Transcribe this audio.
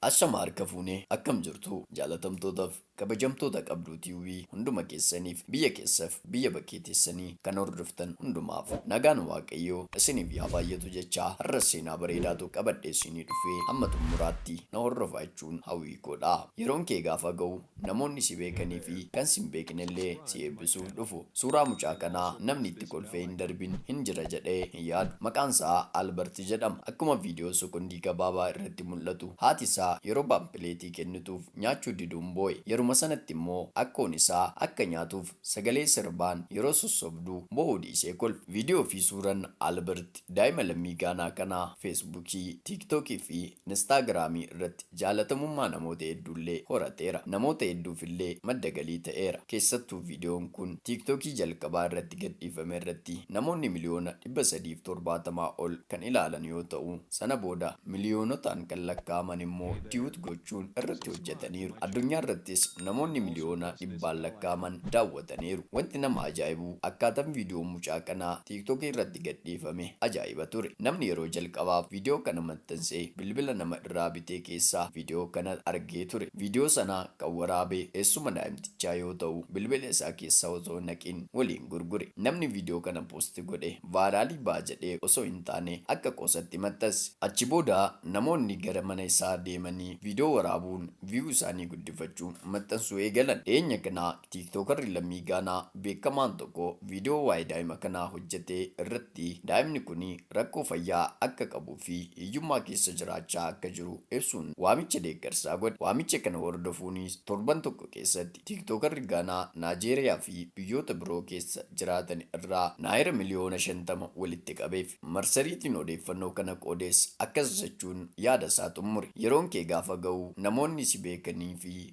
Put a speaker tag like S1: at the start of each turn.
S1: Ashamaa harka fuune akkam jirtu jaalatamtootaf kabajamtoota qabduu tube hunduma keessanif biyya keessaf biyya bakkee teessani kan hordoftan hundumaaf nagaan waaqayyoo isinif yaa baayyatu jechaa harras seenaa bareedaa tokko qabadhee isinii dhufee hamma xummuraatti na hordofaa jechuun hawwii koodha yeroon kee gaafa ga'u Namoonni si beekanii fi kan sin beekne illee si eebbisuuf dhufu. Suuraa mucaa kanaa namni itti kolfee hin darbin hin jira jedhee hin yaadu. Maqaan isaa Albert jedhama. Akkuma viidiyoo sokondii gabaabaa irratti mul'atu haati isaa yeroo paampileetii kennituuf nyaachuu diduun boo'e. Yeruma sanatti immoo akkoon isaa akka nyaatuuf sagalee sirbaan yeroo sossobdu boo'uu dhiisee kolfe. Viidiyoo fi suuran Albert daa'ima lammii Gaanaa kanaa Feesbuukii, Tiiktookii fi Instaagiraamii irratti. Jaalatamummaa namoota hedduullee horateera. Namoota hedduufillee madda galii ta'eera. Keessattuu viidiyoon kun TikTokii jalqabaa irratti gadhiifame irratti namoonni miliyoona 370 ol kan ilaalan yoo ta'u, sana booda miliyoonotaan kan lakkaa'aman immoo tiwuut gochuun irratti hojjetaniiru. Addunyaa irrattis namoonni miliyoona dhibbaan lakkaa'aman daawwataniiru. Wanti nama ajaa'ibu akkaatan viidiyoon mucaa kanaa TikTokii irratti. irratti gadhiifame ajaa'iba ture. Namni yeroo jalqabaaf viidiyoo kana maxxanse bilbila nama irraa bitee keessaa viidiyoo kana argee ture. Viidiyoo sana kan waraabe eessuma daa'imtichaa yoo ta'u, bilbila isaa keessa otoo hin haqiin waliin gurgure. Namni viidiyoo kana post godhe vaayiraalii ba'a jedhee osoo hin taane akka qoosatti maxxanse. Achi booda namoonni gara mana isaa deemanii viidiyoo waraabuun view isaanii guddifachuun maxxansuu eegalan. Dhiyeenya kana Tiiktookarri lammii Gaanaa beekamaan tokko viidiyoo waa'ee daa'ima kanaa hojjete irratti daa'imni kun rakkoo fayyaa akka qabuu fi hiyyummaa keessa jiraachaa akka jiru ibsuun waamicha deeggarsaa godhe. Waamicha kana hordofuunis torban tokko keessatti tiiktookarri Gaanaa Naajeeriyaa fi biyyoota biroo keessa jiraatan irraa Naayira miliyoona 50 walitti qabeef. Marsariitiin odeeffannoo kana qoodes akkas jechuun yaada isaa xummure, Yeroon kee gaafa ga'u namoonni si beekanii fi.